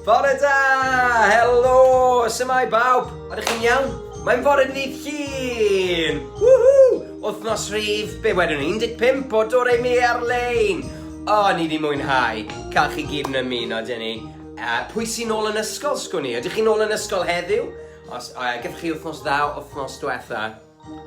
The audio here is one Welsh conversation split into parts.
Bore da! Helo! Symau bawb! Ydych chi'n iawn? Mae'n fore ni llun! Woohoo! Wythnos rhif, be wedwn ni, 15 o dod ei mi ar-lein! O, ni di mwynhau, cael chi gyd yn ymuno, dyn ni. Uh, pwy sy'n ôl yn ysgol, sgwn i? Ydych chi'n ôl yn ysgol heddiw? Os, uh, gyda chi wythnos ddaw, wythnos diwetha,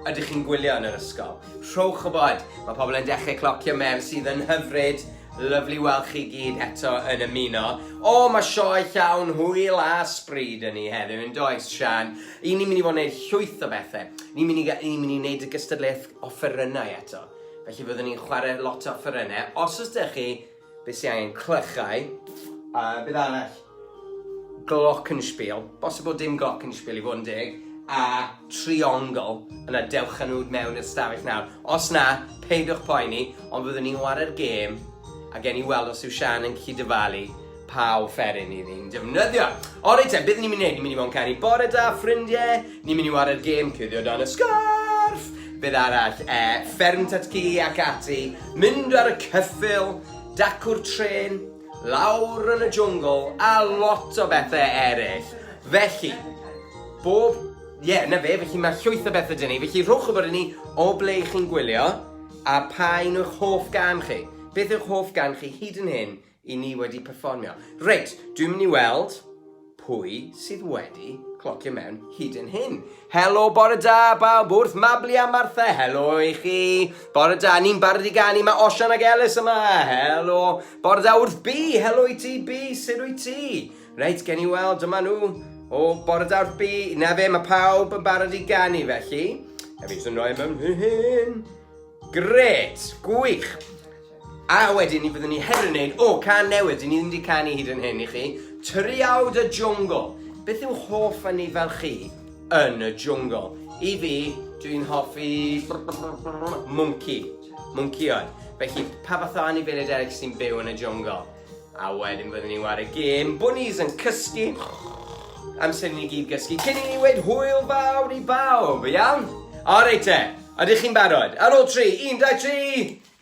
Ydych chi'n gwylio yn yr ysgol? Rhowch o bod, mae pobl yn dechrau clocio mewn sydd yn hyfryd. Lyflu weld chi gyd eto yn ymuno. O, oh, mae sioe llawn hwyl a spryd yn ni heddiw, yn does, Sian? I ni'n mynd i fod yn gwneud llwyth o bethau. Ni'n mynd i, ni mynd i wneud y gystadleuaeth offerynnau eto. Felly fyddwn ni'n chwarae lot o offerynnau. Os ydych chi Be sy angen? Clychau. A beth arall? Glockenspiel. Bosib bod dim glockenspiel i fod yn deg. A triongl. Yna dewch â nhw mewn i'r stafell nawr. Os na, peidiwch poeni, ond fyddwn ni'n ware'r gêm a gen i weld os yw Sian yn gallu dyfalu pa offeryn i ni'n defnyddio. Ori te, beth ni'n mynd i wneud? Ni'n mynd i fod yn canu bore da, ffrindiau, Ni'n mynd i ware'r gêm cuddio dan y sgarff! Beth arall? E, fferm tatgi ac ati, mynd ar y cyffil, dacw'r tren, lawr yn y jwngl a lot o bethau eraill. Felly, bob... Ie, yeah, na fe, felly mae llwyth o bethau dyn ni. Felly rhowch o bod i ni o ble chi'n gwylio a pa un o'ch hoff gan chi. Beth yw'ch hoff gan chi hyd yn hyn I ni wedi perfformio. Reit, dwi'n mynd i weld pwy sydd wedi clocio mewn hyd yn hyn. Helo, bore da, bawb wrth Mabli a Martha, helo i chi. Bore da, ni'n barod i ganu, mae Osian ac Elis yma, helo. Bore da wrth Bi, helo i ti Bi, sut wyt ti? Reit, gen i weld, dyma nhw. O, bore da wrth Bi, na fe, mae pawb yn barod i ganu felly. Hefyd, sy'n rhoi mewn hyn. Gret, gwych. A wedyn ni byddwn ni hefyd yn neud, o, can newydd, dyn ni ddim wedi canu hyd yn hyn i chi, Tyriaw dy Jwngl. Beth yw hoff yn ni fel chi yn y jwngl? I fi, dwi'n hoffi mwnci, mwncionn. Felly, pa fath o anifeiliaid eraill sy'n byw yn y jwngl? A wedyn byddwn ni'n wario gêm, bwnis yn cysgu, amser ni gyd gysgu, cyn i ni wedi hwyl fawr i bawb, iawn? O, reit te, ydych chi'n barod? Ar ôl tri, un, dau, tri!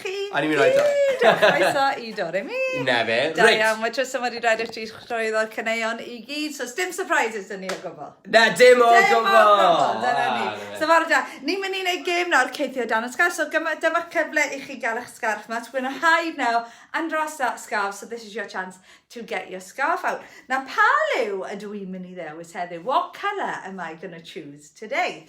chi gyd! A ni'n mynd i roi tro. A chroeso i Doremi! Na fe, reit! Da iawn, mae Trystan wedi dweud i ti llwyddo'r caneuon i gyd, so sdim surprises dyn ni o gwbl. Na, dim o gwbl! Dim o gwbl, dyna ni. So fawr da, ni'n mynd i wneud gêm nawr, ceithio dan y sgarf, so dyma cyfle i chi gael eich sgarf mas, we're gonna hide now and dress that scarf, so this is your chance to get your scarf out. Na pa liw ydw i'n mynd i ddewis heddiw, what colour am I gonna choose today?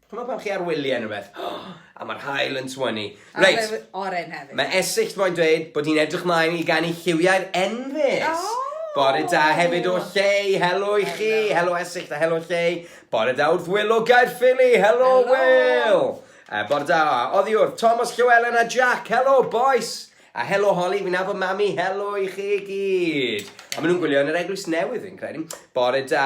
Ch'mod pan chi ar wylie ne' rwbeth a ma'r haul yn twynnu. Reit. A mae oren hefyd. Mae Esyllt moyn dweud bod hi'n edrych mlaen i ganu lliwiau'r enfys. O! Bore da hefyd o Llei, helo i chi, helo Esyllt a helo Llei. Bore da wrth Wil o Gaerffili, helo Wil! Uh, bore da, oddi wrth Thomas Llywelen a Jack, helo boys! A helo Holly, fi'n nabod mami, helo i chi gyd. A maen nhw'n gwylio yn yr eglwys newydd fi'n credu. Bore da,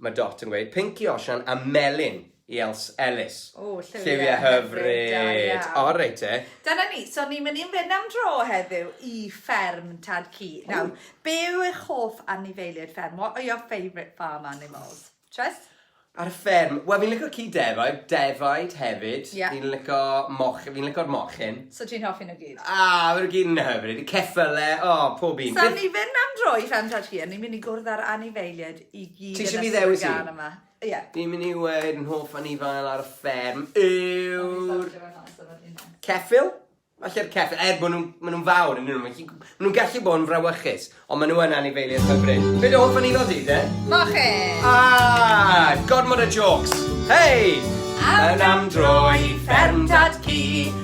Mae Dot yn gweud, Pinc i Osian a Melin i Els Elis. O, lliwiau, lliwiau hyfryd. Da iawn. O, reit te. Dyna ni, so ni'n mynd i'n fynd am dro heddiw i fferm Tad Cu. Nawr, be yw eich hoff anifeiliaid fferm? What are your favourite farm animals? Tryst? Ar y fferm, wel fi'n licio ci defaid, defaid hefyd. Ie. Fi'n licio moch- fi'n licio'r mochyn. So ti'n hoffi nhw gyd? A, maen nhw gyd yn hyfryd. Ceffylau, o, pob un. So ni'n mynd am dro i fferm Tad Cu a ni'n mynd i gwrdd â'r anifeiliaid i gyd yn ystod y gan yma. Ti isio fi ddewis un? Ie. Fi'n mynd i weud yn hoff anifail ar y fferm yw'r... Ceffyl? Falle'r ceffyl, er bod nhw'n ma nhw fawr yn nhw, ma nhw'n gallu bod yn frawychus, ond ma nhw yn anifeiliaid hyfryd. Be dy hoff anifail di, de? Moche! Ah, gormod o jokes! Hei! Awn am dro i fferm dad cu,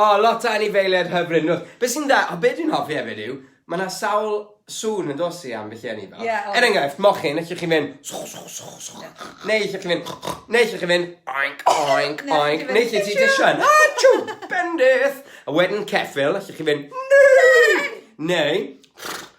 O, lot o anifeiliaid hyfryd, nôs. Be sy'n dda, o, be dwi'n hoffi hefyd yw, mae 'na sawl sŵn yn dos i ambell i anifel. Ie, oes. Er enghraifft, mochyn, allwch chi fynd swch, swch, swch, swch, neu allwch chi fynd neu allwch chi fynd oink, oink, Neu allwch chi oink, fynd, neu lle ti "Achoo!" jyst yn achoo, bendith! A wedyn ceffyl, allwch chi fynd neu, neu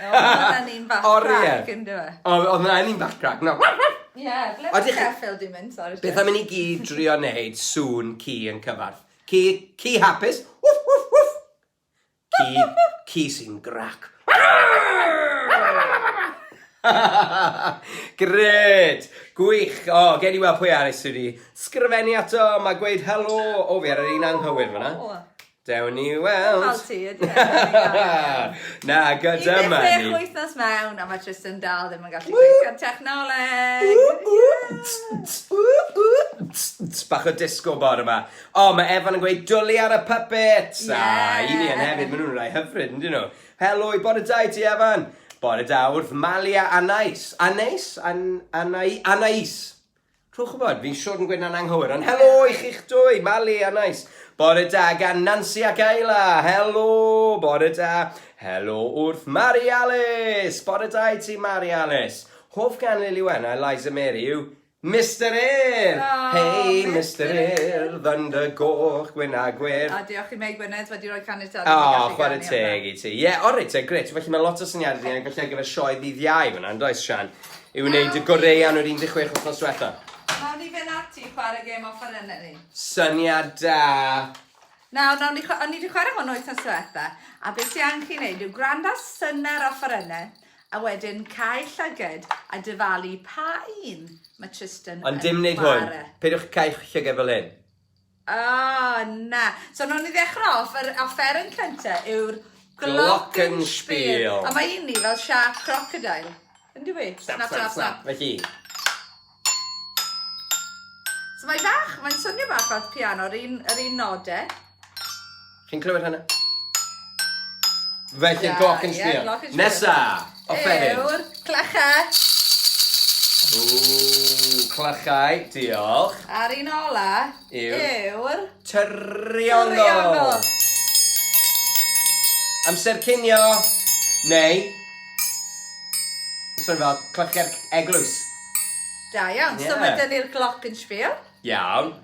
Oedden ni'n fach crac yn do fe? Oedden ni'n un bach crac na? Ie ble ma Sheffield di mynd sori? Beth am i ni gyd drio neud sŵn ci yn cyfarth? Ci ci hapus wff wff wff ci ci sy'n grac Grêt! Gwych! O, gen i weld pwy arall sydd wedi sgrifennu ato, mae gweud helo! O, fi ar yr un anghywir fan'na. Dewn ni weld! Fel ti, ie, ie, ie. Na, gyda money. 16 wythnos mewn a mae Tristan dal ddim yn gallu gweithio'r technoleg! Bach o disco bor yma. O, mae Evan yn gweud dwli ar y puppets! Ie! A i ni yn hefyd, maen nhw'n rhai hyfryd, yn dyn nhw. Helo i bore da i ti, Evan! Bore da wrth Malia Anais. Anais? An, Anai, Anais! Rhowch wybod, fi Siôn Gwyna'n anghywir, ond helo i chi'ch dwy, Mali a Nais. Bore da gan Nancy ac Ayla, helo, bore da. Helo wrth Mari Alice, bore da i ti Mari Alice. Hoff gan Lili Wen a Eliza Mary yw Mr Air! Oh, hey, Mr Air, ddyndr goch, gwyn a gwir. A diolch i Mei Gwynedd wedi rhoi caniatad. O, oh, chwarae teg i ti. Ie, yeah, o reit, e, gret. Felly mae lot o syniadau ni, felly ar gyfer sioe ddydd iau fyna, yn does, Sian? I wneud y goreu am yr 16 wythnos diwetha. Nawn ni fynd ati i chwarae gêm offerynnau ni. Syniad da! Nawr, nawn ni, o'n ni wedi chwarae hwn wythnos diwetha, a beth sy'n angen chi wneud yw gwrando ar synnau'r offerynnau, a wedyn cael llyged a dyfalu pa un mae Tristan Ond dim wneud hwn, peidiwch cael llyged fel hyn. Oh, na. So, nhw'n i ddechrau off, yr offeryn cynta yw'r Glockenspiel. A mae un ni fel sharp crocodile. Yn dwi? Snap, snap, snap. Felly. So mae fach, mae'n swnio bach fel piano, yr un, yr un node. Chi'n clywed hynna? Felly yeah, gloc yn sbio. Yeah, Nesa, offeryn. Ewr, clychau. Ww, clychau, diolch. A'r un ola yw'r... Tyrionol. Amser cinio, neu... Swn fel clychau'r eglwys. Da iawn, yeah. so mae dyn ni'r gloc yn sbio. Iawn.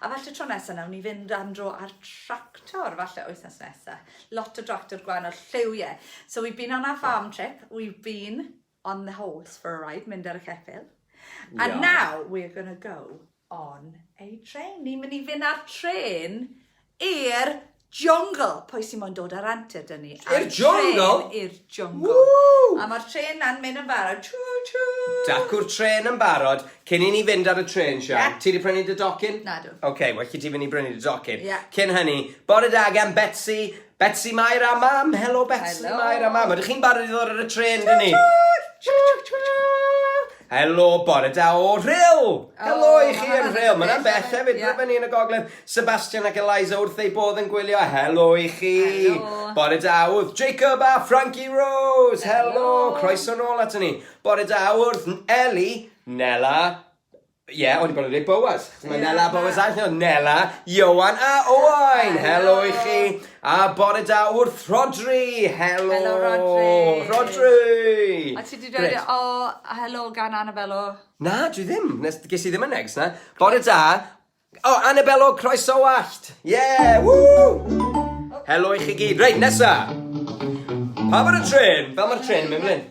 A falle tro nesa nawn ni fynd am dro ar tractor, falle wythnos nesa. Lot o dractor gwahanol, lliw ie. So we've been on our farm trip, we've been on the horse for a ride, mynd ar y ceffil. Yeah. And now we're going to go on a train. Ni'n mynd i fynd ar tren i'r Jungle! Pwy sy'n moyn dod ar antur dyn ni? I'r jungle? I'r jungle. Woo! A mae'r tren na'n mynd yn barod. Chw, chw! Dacw'r tren yn barod. Cyn i ni fynd ar y tren, Sian, yeah. ti wedi prynu dy docyn? Na, dw. Oce, okay, well, ti fynd i brynu dy docyn. Yeah. Cyn hynny, bore da gan Betsy, Betsy Mair a Mam. Helo, Betsy Hello. Mair a Mam. Ydych chi'n barod i ddod ar y tren, dyn ni? Chw, chw! Helo, bore da o Rhyl! Helo oh, i chi yn Rhyl. Mae yna beth hefyd, yeah. rydyn ni yn y gogledd. Sebastian ac Eliza wrth ei bodd yn gwylio. Helo i chi! Helo. Bore da wrth Jacob a Frankie Rose. Helo, Helo. croeso nôl ato ni. Bore da wrth Eli, Nela, Ie, yeah, o'n i bod yn dweud Boaz. Mae yeah, Nela Boaz all nhw. Nela, Iowan a Owain. Helo i chi. A bore da wrth Rhodri! Helo! Helo Rhodri! Rhodri! A ti di dweud o helo gan Annabello? Na, dwi ddim. Nes, ges i ddim y negs na. Bore da! O, Annabello, croeso wallt! Ie! Woo! Helo i chi gyd. Reit, nesa! Pa mor y tren? Fel mae'r tren yn mynd fan hyn.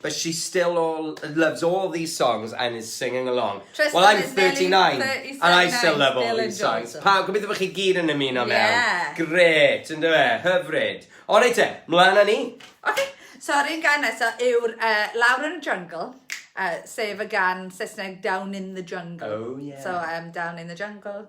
But she still all, loves all these songs and is singing along. Tristan well, I'm 39 nearly, and I still love all these songs. Pa, gobeithio bod chi gyd yn ymuno mewn. Yeah. Gret, yn dweud, e? hyfryd. O reit te, mlaen â ni. Okay, so rhywun gan nesaf yw'r uh, Lawr yn y Jungle. Uh, sef y gan Saesneg Down in the Jungle. Oh, yeah. So, um, Down in the Jungle.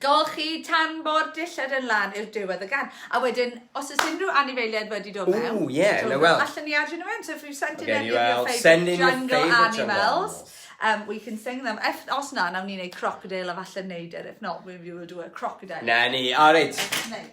Golchi tan bo'r dillad yn lan i'r diwedd y gan. A wedyn, os oes unrhyw anifeiliaid wedi dod mewn... Ww, ie, na wel. ...allan ni adio nhw mewn. So if you send in any of your favourite jungle animals, um, we can sing them. If, os na, nawn ni wneud crocodile a falle neud e. If not, we will do a crocodile. Na ni, o reit.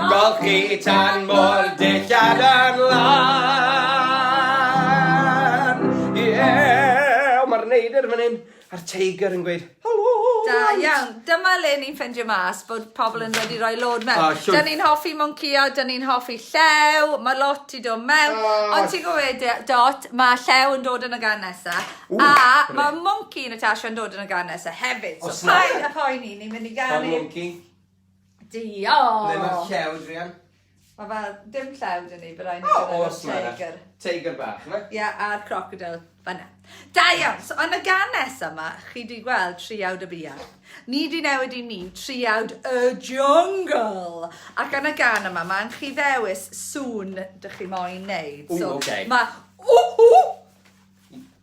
Golchi tan mo'r dillad yn lan. Iew! Mae'r neidr fan hyn, a'r teigr yn gweud helo! Da iawn. Dyma le ni'n ffendio mas bod pobl yn wedi rhoi lod mewn. Oh, da ni'n hoffi moncio, da ni'n hoffi llew, mae lot i dod mewn. Oh. Ond ti'n gwybod, Dot, mae llew yn dod yn y gan nesaf. A mae monci Natasha yn dod yn y gan nesaf hefyd. So paid a poeni, ni'n mynd i gael... Monci. Diolch! Ble mae'r llew, druan? Mae fe, dim llew dyn ni, byddai'n oh, gyda'r awesome, teigr. Teigr bach, yma? Ie, yeah, a'r crocodile, fanna. Da iawn, so yn y gan nesaf yma, chi di gweld triawd y bia. Ni di newid i ni triawd y jungle. Ac yn y gan yma, mae'n chi ddewis sŵn dych chi moyn neud. So, Ooh, okay. Mae, ww, ww,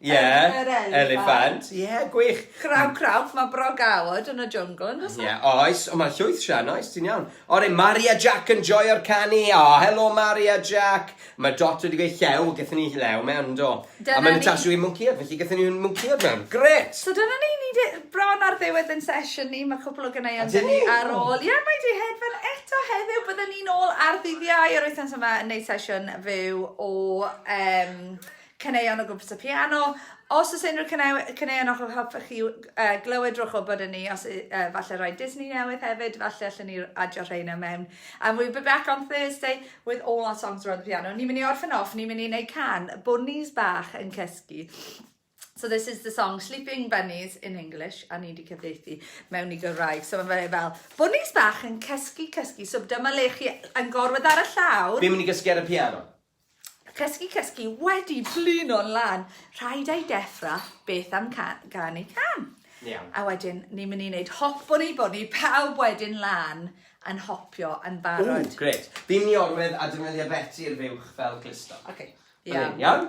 Ie, eliffant, ie, gwych! Kraw kraw, mae bro Gawod yn y jwngl yn does e? Ie, oes, ond mae'n llwyth Sian, oes, ti'n iawn. O, rei, Mari a Jack yn joio'r canu, o, helo Mari a Jack! Mae Dot wedi gweud llew, gyda ni llew mewn, do. Dyna ni. A mae Natasha wedi mwncïod, felly gyda ni'n mwncïod mewn, gret! So dyna ni, ni di bron ar ddiwedd yn sesiwn ni, mae cwpl o gyneuon dyn ni ar ôl. Ie, mae di hedfan eto heddiw, byddwn ni'n ôl ar ddydd Iau yr wythnos yma yn neud sesiwn fyw o um, caneuon o gwmpas y piano. Os oes unrhyw caneuon o'ch hoffech chi uh, glywed rhywch o bod yn ni, os uh, falle rhoi Disney newydd hefyd, falle allan ni adio rheina mewn. And we'll be back on Thursday with all our songs around the piano. Ni'n mynd i orffen off, ni'n mynd i wneud can, bunnies bach yn cysgu. So this is the song Sleeping Bunnies in English, a ni wedi cyfeithi mewn i Gymraeg. So mae fe fel, bunnies bach yn cysgu, cysgu, so dyma le chi yn gorwedd ar y llawr. Fi'n mynd i gysgu ar y piano. Cysgu, cysgu, wedi blino'n lan. Rhaid ei deffra beth am can, gan ei can. Iawn. A wedyn, ni'n mynd i wneud hop o'n i bod ni pawb wedyn lan yn hopio yn barod. Ww, gret. Fi'n mynd i orwedd a defnyddio Beti i'r fuwch fel clusto. Oce. Iawn. Iawn?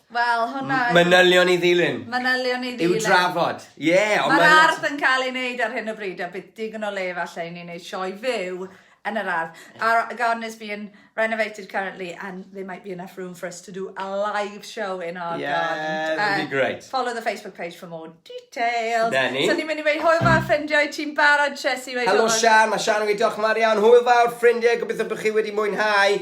Wel, hwnna yw... Manylion i ddilyn. Manylion i ddilyn. I'w drafod. Ie, yeah, ond mae'r... Mae'r ardd yn cael ei wneud ar hyn o bryd, a bydd digon o le falle i ni wneud sioe fyw yn yr ardd. Our garden is being renovated currently and there might be enough room for us to do a live show in our yeah, garden. Yeah, that'd uh, be great. Follow the Facebook page for more details. Na ni. So ni'n mynd i wneud hwyl fawr ffrindiau, ti'n barod Chesi? Helo Sian, mae Sian yn gweithio'ch mar iawn. Hwyl fawr ffrindiau, gobeithio bod chi wedi mwynhau.